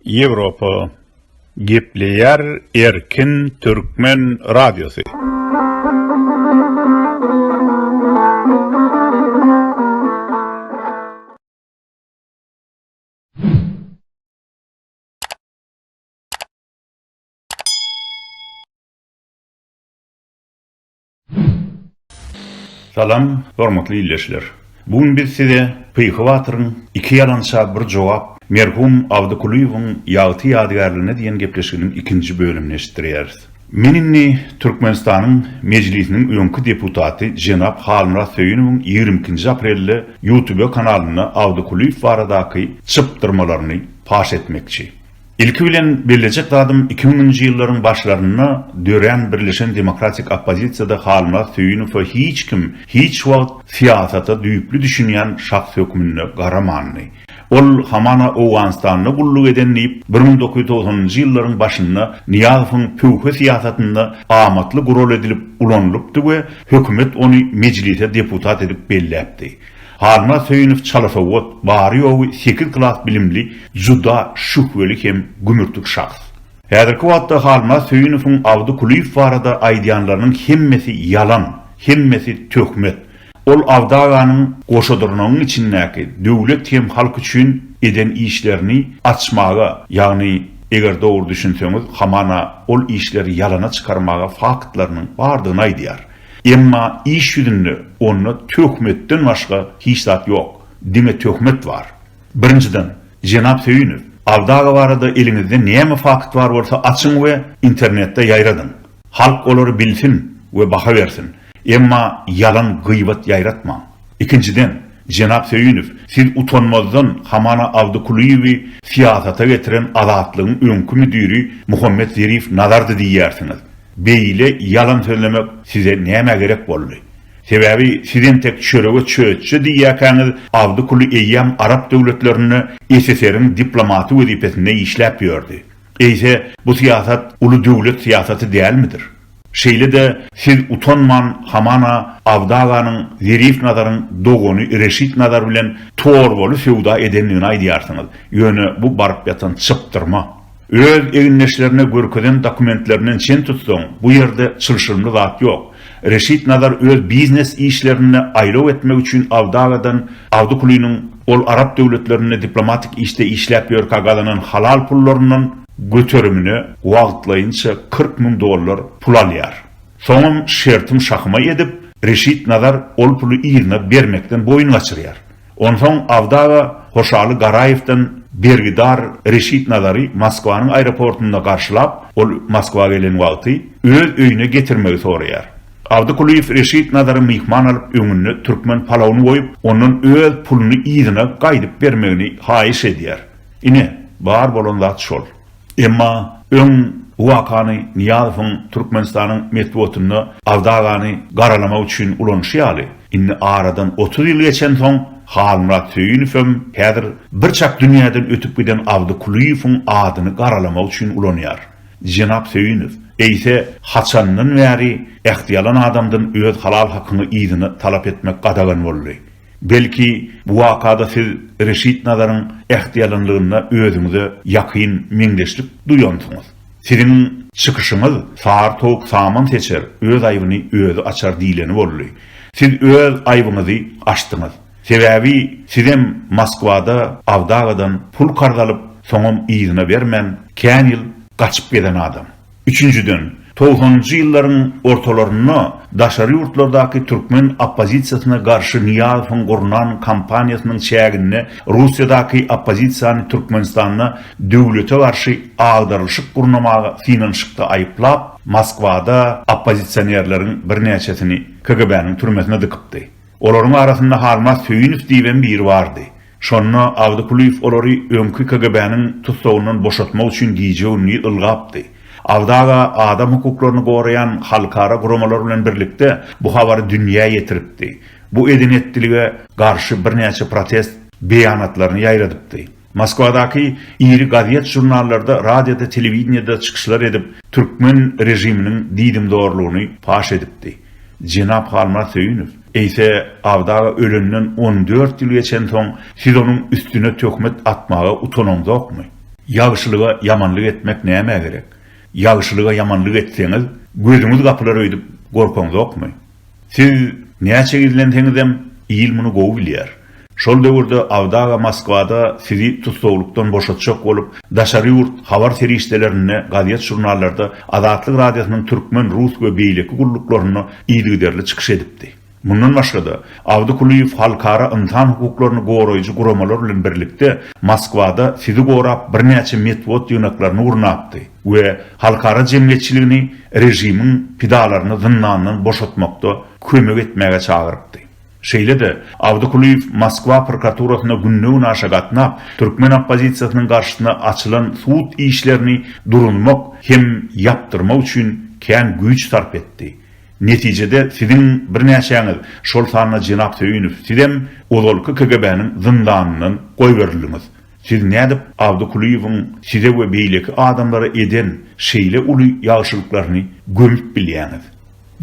Ýewropa gepleýär erkin türkmen radiosy. Salam, hormatly ildeşler! Bu gün biz size Pyhy batyryň Iki ýalança bir jogap, merhum Abdy Kulyýewiň ýagty ýadygärligine diýen gepleşiginiň ikinji bölümini eşitdirýäris. Men indi Türkmenistanyň Mejlisiniň öňki deputaty jenap Halmyrat Söýünowyň ýigrimi ikinji aprelde Ýutube kanalynda Abdy Kulyýew baradaky çypdyrmalaryny paş etmekçi. Ilki bilen bellejek zadym iki müňünji ýyllaryň başlarynda dörän Birleşen demokratik oppozisiýada Halmyrat Söýünowa hiç kim hiç wagt syýasata düýpli düşünýän şahs hökmünde garamandy. Ol hamana Owganystanda gulluk eden diýip bir müň dokuz ýüz togsanynjy ýyllaryň başynda Nyýazowyň pöwhe syýasatynda amatly gural edilip ulanylypdy we hökümet ony mejlise deputat edip belläpdi. Halmyrat Söýünow çalasowat, bary-ýogy sekiz klas bilimli, juda şühweli hem gümürtik şahs. Häzirki wagtda Halmyrat Söýünowyň Abdy Kulyýew barada aýdýanlarynyň hemmesi ýalan, hemmesi töhmet. Ol Abdy aganyň Goşadyrnagyň içindäki döwlet hem halk üçin eden işlerini açmaga, ýagny eger dogry düşünseňiz, hamana ol işleri ýalana çykarmaga faktlarynyň bardygyny aýdýar. Emma iş ýüzünde onda töhmetden başga hiç zat ýok. Diňe töhmet bar. Birinjiden, jenap Söýünow, Abdaga barada eliňizde näme fakt bar bolsa açyň we internetde ýaýradyň. Halk olary bilsin we baha bersin. Emma ýalan gyýbat ýaýratmaň. Ikinjiden, jenap Söýünow, siz utanmazdan hamana Abdy Kulyýewi syýasata getiren Azatlygyň öňki müdiri Muhammet Zerif Nazardy diýýärsiňiz. Beýle ýalan sözlemek size nämä gerek boldy? Sebäbi siz entek çörege çöçje diýýäkäňiz, Abdykuly eýýäm arap döwletlerinde SSR-iň diplomaty wezipesinde işläp ýördi. Eýse, bu syýasat uly döwlet syýasaty dälmidir? Şeýle-de siz utanman hamana Abdy aganyň Zerif Nazaryň dogany Reşit Nazar bilen torbaly söwda edendigini aýdýarsyňyz, ýöne bu baryp ýatan çypdyrma. Öz egindeşlerine görkezen dokumentlerinden çen tutsaň, bu ýerde çylşyrymly zat ýok. Reşit Nazar öz biznes işlerinde aýlaw etmek üçin Aldagadan Awdukulynyň ol arap döwletlerinde diplomatik işde işläp ýörkä gazanan halal pullaryndan göterimine wagtlaýynça kyrk müň dollar pul alýar. Soňam şertim şahyma edip, Reşit Nazar ol puly yzyna bermekden boýun gaçyrýar. Onsoň Abdaga Hoşaly Garaýewden bergidar Reşit Nazary Moskwanyň aeroportynda garşylap, ol Moskwa gelen wagty, öz öýüne getirmegi soraýar. Abdy Kulyýew Reşit Nazary myhman alyp, öňünde türkmen palawuny goýup, ondan öz puluny yzyna gaýdyp bermegini haýyş edýär. Ine, bar bolan zat şol. Emma öň bu wakany Nyýazowyň Türkmenistanyň metbugatynda Aldagany garalamak üçin ulanyşy ýaly, indi aradan otuz ýyl geçensoň, Halmyrat Söýünowem häzir birçak dünýäden ötüp giden Abdy Kulyýewiň adyny garalamak üçin ulanýar. Jenap Söýünow, eýse, haçandan bäri ähtiýalan adamdan öz halal hakyňy yzyna talap etmek gadagan boldy? Belki, bu wakada siz Reşit Nazaryň ähtiýalanlygynda özüňize ýakyn meňzeşlik duýansyňyz. Siziň çykyşyňyz Sary towuk saman seçer, öz aýbyny özi açar diýleni boldy. Siz öz aýbyňyzy açdyňyz. Sebäbi sizem Moskwada Awdagadan pul karz alyp, soňam yzyna bermän, kän ýyl gaçyp gezen adam. Üçünjiden, togsanynjy ýyllaryň ortalarynda daşary ýurtlardaky türkmen oppozisiýasyna garşy Nyýazowyň gurnan kampaniýasynyň çäginde Russiýadaky oppozisiýany Türkmenistanda döwlete garşy agdarylyşyk gurnamaga synanyşykda aýyplap, Moskwada oppozisionerleriň birnäçesini KGB-niň türmesine dykypdy. Olaryň arasynda Halmaz Söýünow diýibem biri bardy. Şonda Agdykulyýew olary öňki KGB-niň tussagyndan boşatmak üçin gije-gündiz ylgapdy. Abdy aga adam hukuklaryny goraýan halkara guramalar bilen birlikde bu habary dünýä ýetiripdi. Bu eden-etdilige garşy birnäçe protest beýanatlaryny ýaýradypdy. Moskwadaky iri gazet-žurnallarda, radioda-telewideniýede çykyşlar edip, türkmen režiminiň diýdimzorlugyny paş edipdi. Jenap Halmyrat Söýünow. Eýse, Abdy aga ölenden on dört ýyl geçensoň, siz onuň üstüne töhmet atmaga utanaňzokmy? Ýagşylyga ýamanlyk etmek nämä gerek? Ýagşylyga ýamanlyk etseňiz, gözüňiz gapylar öýdüp gorkaňzokmy? Siz näçe gizlenseňizem, il muny gowy bilýär. Şol döwürde Abdy aga Moskwada sizi tussaglykdan boşatjak bolup, daşary ýurt habar serişdelerinde, gazet-žurnallarda, Azatlyk Radiosynyň türkmen, rus we beýleki gulluklarynda yzygiderli çykyş edipdi. Mundan başga-da, Abdy Kulyýew halkara ynsan hukuklaryny goraýjy guramalar bilen birlikde Moskwada sizi gorap birnäçe metbugat ýygnaklaryny gurnapdy we halkara jemgyýetçiligini režimiň pidalaryny zyndandan boşatmakda kömek etmäge çagyrypdy. Şeýle-de, Awdykulyýew Moskwa prokuraturasyna günde-günaşa gatnap, türkmen oppozisiýasynyň garşysyna açylan sud işlerini durunmak hem ýapdyrmak üçin kän güýç sarp etdi. Netijede siziň birnäçäňiz, şol sanda jenap Söýünow sizem ozalky KGB-niň zyndanyndan goýberildiňiz. Siz nädip Awdykulyýewiň size we beýleki adamlara eden şeýle uly ýagşylyklaryny gömüp bilýäňiz?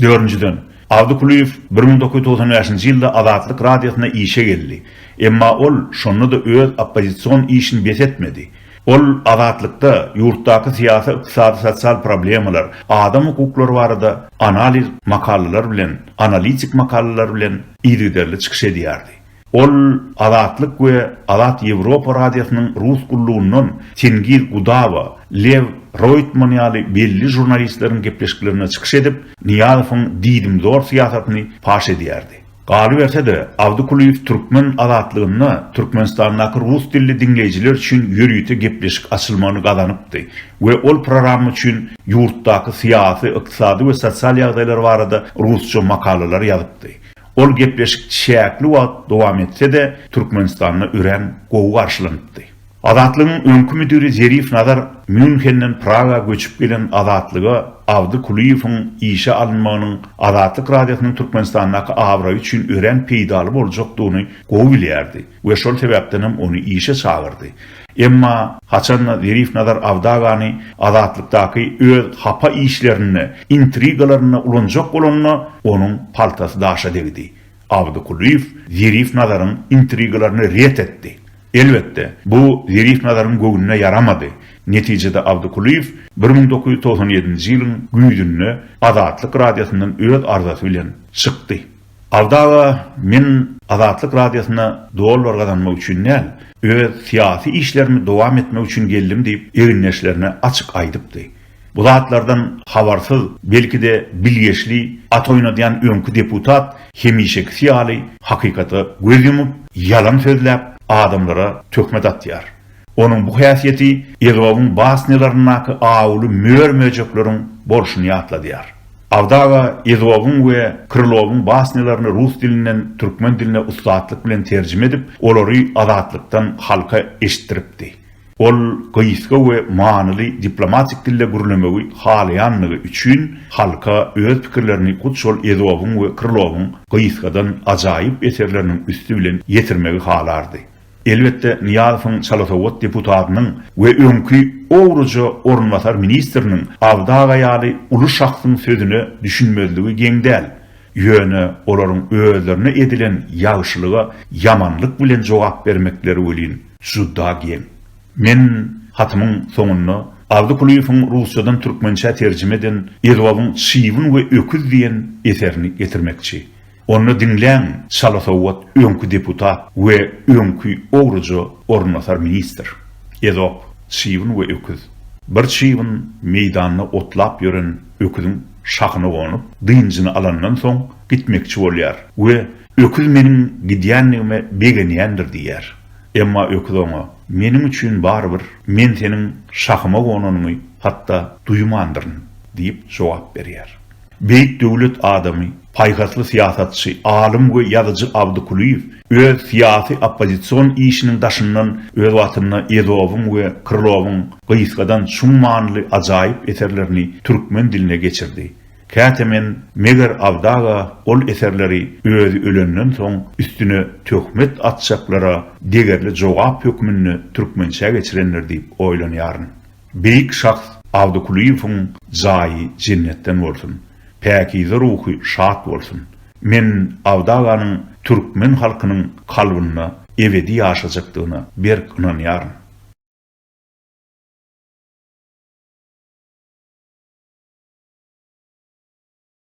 Dördünjiden, Abdy Kulyýew bir müň dokuz ýüz togsan bäşinji ýylda Azatlyk Radiosyna işe geldi. Emma ol şonda-da öz oppozision işini bes etmedi. Ol Azatlykda ýurtdaky syýasy, ykdysady, sosial problemalar, adam hukuklary barada analiz makalalar bilen, analitik makalalar bilen yzygiderli çykyş edýärdi. Ol Azatlyk we Azat Ýewropa Radiosynyň rus gullugyndan Tengiz Gudawa, Lew Roýtman ýaly belli žurnalistleriň gepleşiklerinde çykyş edip, Nyýazowyň diýdimzor syýasatyny paş edýärdi. Galyberse-de, Awdykulyýew türkmen Azatlygynda Türkmenistandaky rus dilli diňleýjiler üçin ýörite gepleşik açylmagyny gazanypdy we ol programma üçin ýurtdaky syýasy, ykdysady we sosial ýagdaýlar barada rusça makalalar ýazypdy. Ol gepleşik çäkli wagt dowam etse-de, Türkmenistanda örän gowy garşylanypdy. Azatlygyň öňki müdiri Zerif Nazar Mýunhenden Praga göçüp gelen Azatlyga Abdy Kulyýewiň işe alynmagynyň Azatlyk Radiosynyň Türkmenistandaky abraýy üçin örän peýdaly boljakdygyny gowy bilýärdi we şol sebäpdenem ony işe çagyrdy. Emma haçan-da Zerif Nazar Awdagany Azatlykdaky öz hapa işlerinde, intrigalarynda ulanjak bolanda, onuň paltasy daşa degdi. Abdy Kulyýew Zerif Nazaryň intrigalaryny ret etdi. Elbetde, bu Zerif Nazaryň göwnüne ýaramady. Netijede Abdy Kulyýew bir müň dokuz ýüz togsan ýedinji ýylyň güýzünde Azatlyk radiosyndan öz arzasy bilen çykdy. Alda aga men Azatlyk radiosyna dollar gazanmak üçin däl, öz syýasy işlerimi dowam etmek üçin geldim diýip egindeşlerine açyk aýdypdy. Bu zatlardan habarsyz, belki-de bilgeşli at oýnadýan öňki deputat hemişekisi ýaly hakykata göz ýumup, ýalan sözläp, adamlara töhmet atýar. Onuň bu häsiýeti Ezowyň basnýalaryndaky awuly mör-möjekleriň bolşuny ýatladýar. Awdaga Ezowyň we Krylowyň basnýalaryny rus dilinden türkmen diline ussatlyk bilen terjime edip, olary azatlykdan halka eşitdiripdi. Ol gysga we manyly diplomatik dilde gürlemegi halaýanlygy üçin halka öz pikirlerini hut şol Ezowyň we Krylowyň gysgadan ajaýyp eserleriniň üsti bilen ýetirmegi halardy. Elbetde, Nyýazowyň çalasowat deputatynyň we öňki owruja orunbasar ministriniň Abdy aga ýaly uly şahsyň sözüne düşünmezligi geň däl. Ýöne olaryň özlerine edilen ýagşylyga ýamanlyk bilen jogap bermekleri welin, juda geň. Men hatymyň soňunda Abdy Kulyýewiň rusçadan türkmençä terjime eden Edwabyň Çybyn we öküz diýen eserini getirmekçi. Onda diňläň, çala sowat öňki deputat we öňki ogruja orunbasar ministr. Ezop, çybyn we öküz. Bir çybyn meýdanda otlap ýören öküziň şahyna gonup, dynjyny alandan soň gitmekçi bolýar we öküz meniň gidýändigime begenýändir diýýär. Emma öküz oňa, Meniň üçin barybir, men seniň şahyma gonanyňy hatda duýmandyryn diýip jogap berýär. Beýik döwlet adamy, paýhasly syýasatçy, alym we ýazyjy Abdy Kulyýew öz syýasy oppozision işiniň daşyndan öz wagtynda Ezowyň we Krlowyň gysgadan çuň manyly ajaýyp eserlerini türkmen diline geçirdi. Käte men, Meger Abdaga ol eserleri özi ölenden soň üstüne töhmet atjaklara degerli jogap hökmünde türkmençä geçirendir diýip oýlanýaryn. Beýik şahs Abdy Kulyýewiň jaýy jennetden bolsun. Päkize ruhy şat bolsun. Men Abdy aganyň türkmen halkynyň kalbynda ebedi ýaşajakdygyna berk ynanýaryn.